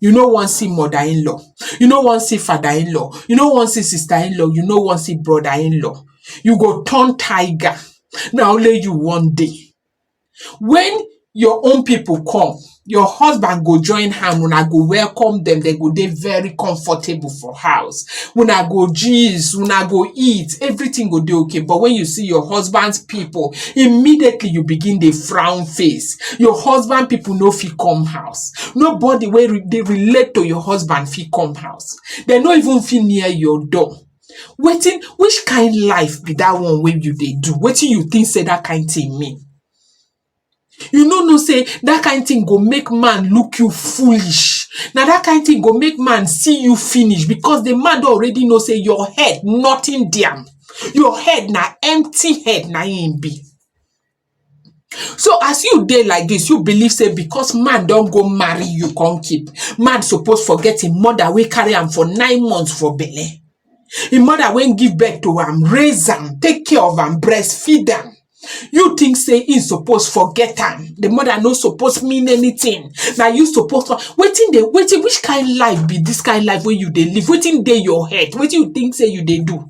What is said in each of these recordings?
You no wan see mother in law, you no wan see father in law, you no wan see sister in law, you no wan see brother in law, you go turn tiger na only you wan dey. When your own people come your husband go join hand una go welcome dem, dem go dey very comfortable for house, una go gist, una go eat everything go dey okay but when you see your husband people immediately you begin dey frown face, your husband people no fit come house. house nobody wey re- dey relate to your husband fit come house dem no even fit near your door wetin which kind life be that one wey you dey do wetin you think say that kind thing mean you no know say that kind thing go make man look you foolish na that kind thing go make man see you finish because the man don already know say your head nothing there your head na empty head na im be So as you dey like dis, you believe sey because man don go marry you come keep, man suppose forget im mother wey carry am for nine months for belle. Im mother wey give birth to am, raise am, take care of am, breastfeed am. You think sey im suppose forget am? De mother no suppose mean anything. Na you suppose con wetin dey wetin which kind life be dis kind life wey you dey live? Wetin dey your head? Wetin you think sey you dey do?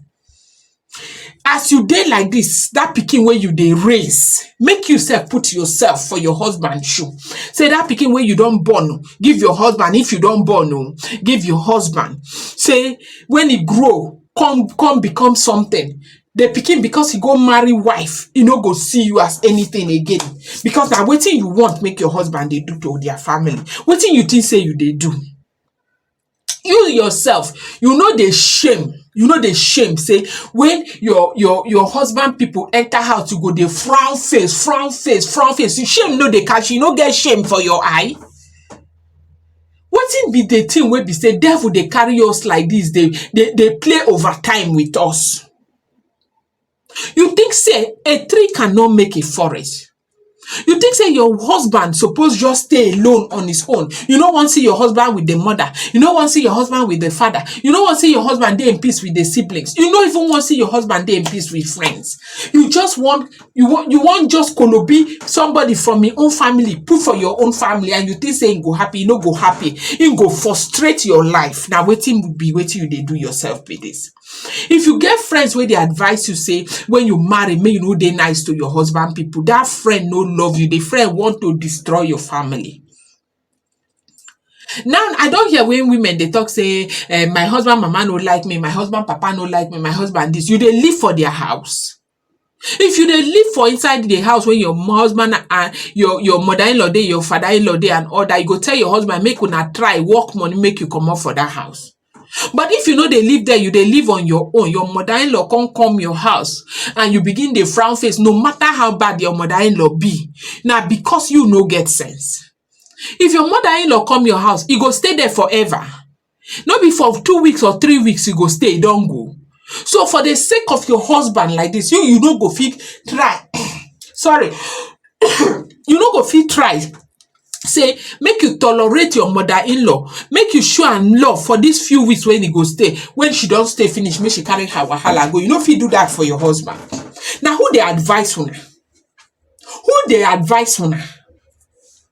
As you dey like dis, dat pikin wey you dey raise, make you sef put yoursef for your husband shoe. Sey dat pikin wey you don born, give your husband if you don born o, give your husband. Sey wen e grow, come come become sometin, di pikin becos e go marry wife, e no go see you as anytin again. Becos na wetin you want make your husband dey do to dia family. Wetin you tink sey you dey do? you yourself you no dey shame you no dey shame sey when your your your husband pipu enter house you go dey frown face frown face frown face you shame no dey catch you, you no get shame for your eye wetin be the thing wey be sey devil dey carry us like dis dey dey dey play over time with us You think sey a tree cannot make a forest? You think sey your husband suppose just stay alone on his own? You no wan see your husband with im mother? You no wan see your husband with im father? You no wan see your husband dey in peace with im siblings? You no even wan see your husband dey in peace with friends? You just wan you wan you wan just kolobi somebody from im own family put for your own family and you think sey im go happy? E no go happy. Im go frustrate your life. Na wetin be wetin you dey do yourself be dis. If you get friends wey dey advice you sey when you marry make you no dey nice to your husband pipu, dat friend no love you, de friend want to destroy your family. Now I don hear wey women dey talk sey um my husband mama no like me, my husband papa no like me, my husband dis, you dey live for their house? If you dey live for inside di house wey your husband and your your mother in-law dey, your father in-law dey and all dat, you go tell your husband make una try work money make you comot for dat house. But if you no dey live there, you dey live on your own, your mother in-law come come your house and you begin dey frown face no matter how bad your mother in-law be, na because you no get sense. If your mother in-law come your house, e go stay there forever? no be for two weeks or three weeks you go stay you don go so for the sake of your husband like this you you no go fit try sorry you no go fit try say make you tolerate your mother in-law make you show am love for these few weeks when he go stay when she don stay finish make she carry her wahala go you no fit do that for your husband na who dey advice una who dey advice una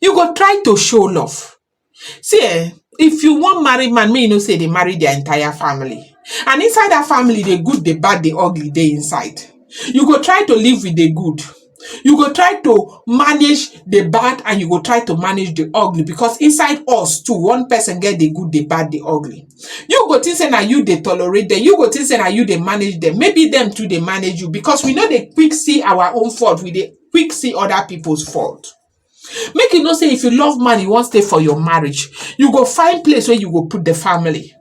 you go try to show love see eh if you wan marry man make you know sey you dey marry dia entire family and inside dat family di good, di bad, di ugly dey inside you go try to live wit di good you go try to manage di bad and you go try to manage di ugly becos inside us too one person get di good, di bad, di ugly you go think sey na you dey tolerate dem, you go think sey na you dey manage dem maybe dem too dey manage you becos we no dey quick see our own fault we dey quick see other people's fault. Make you know say if you love man, you wan stay for your marriage, you go find place where you go put the family.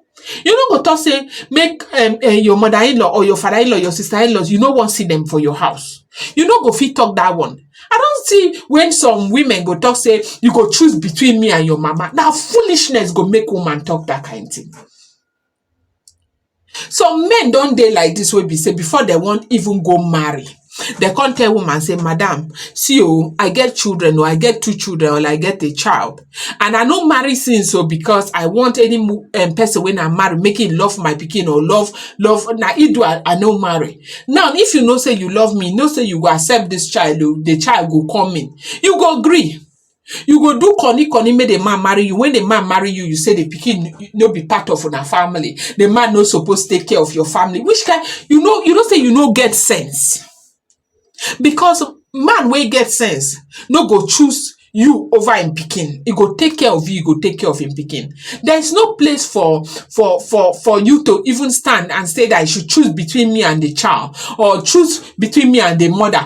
You no go talk say make um, uh, your mother-in-law or your father-in-law, your sister-in-laws, you no wan see them for your house. You no go fit talk that one. I don't see when some women go talk say you go choose between me and your mama. Now foolishness go make woman talk that kind thing. Some men don dey like dis wey be sey before dem wan even go marry dem come tell woman sey madam see oo I get children oo I get two children or I get a child and I no marry since oo because I want any mo um person wey I marry make im love my pikin or love love na im do I no marry now if you know sey you love me know sey you go accept dis child oo de child go come in you go gree You go do koni koni make the man marry you. When the man marry you, you say the pikin no be part of una family. The man no suppose take care of your family. Which kind you know you know say you no get sense. Because man wey get sense no go choose you over im pikin. He go take care of you, he go take care of im pikin. There is no place for for for for you to even stand and say that I should choose between me and the child or choose between me and the mother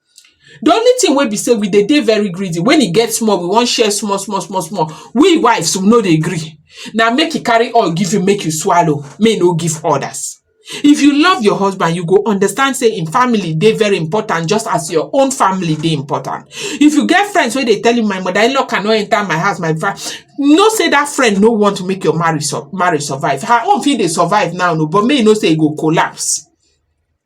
The only thing wey be sey we dey dey very greedy when e get small we wan share small small small small we wives we no dey gree na make e carry oil give you make you swallow make e no give others if you love your husband you go understand sey im family dey very important just as your own family dey important if you get friends wey dey tell you my mother in law cannot enter my house my fa know sey that friend no want make your marriage marriage survive her own fit dey survive now but make you know sey e go collapse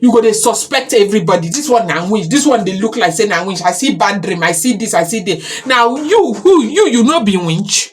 you go dey suspect everybody this one na witch this one dey look like say na witch i see bad dream i see this i see that now you who you you no be witch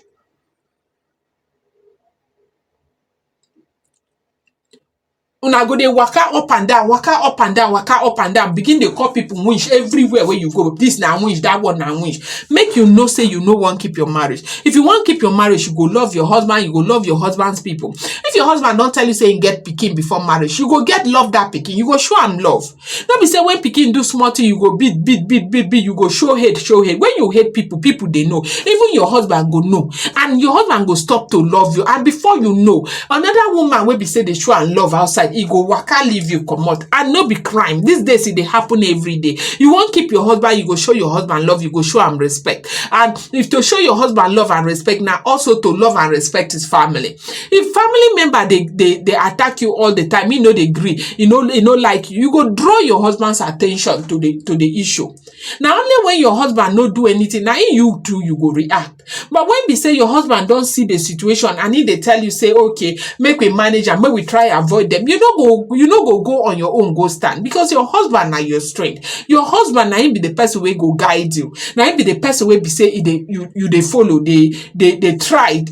una go dey waka up and down waka up and down waka up and down begin dey call people witch everywhere wey you go this na witch that one na witch make you know say you no wan keep your marriage If you wan keep your marriage, you go love your husband, you go love your husband's people. If your husband don tell you say he get pikin before marriage, you go get love that pikin, you go show am love. No be say when pikin do small thing, you go beat, beat, beat, beat, beat, you go show hate, show hate. When you hate people, people dey know. Even your husband go know. And your husband go stop to love you. And before you know, another woman wey be say dey show am love outside, e go waka leave you comot. And no be crime. These days, e dey happen every day. You wan keep your husband, you go show your husband love, you go show am respect. And if to show your husband love and respect now, also to love and respect his family if family member they they they attack you all the time you know they agree you know you know like you go draw your husband's attention to the to the issue Now only when your husband no do anything now you too you go react but when we say your husband don't see the situation and if they tell you say okay make we manage and make we try avoid them you no go you no go go on your own go stand because your husband now your strength your husband now be the person will go guide you na him be the person wey be say e dey you you dey follow dey dey dey try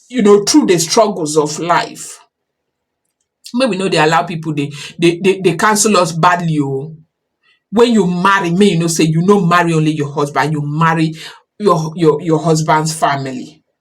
you know through the struggles of life make we no dey allow people dey dey dey dey cancel us badly o when you marry make you know say you no marry only your husband you marry your your your husband's family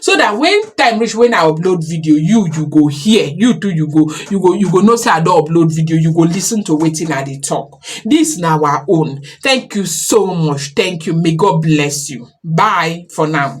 so that when time reach when I upload video you you go hear you too you go you go you go know say I don upload video you go listen to wetin I dey talk this na our own thank you so much thank you may God bless you bye for now.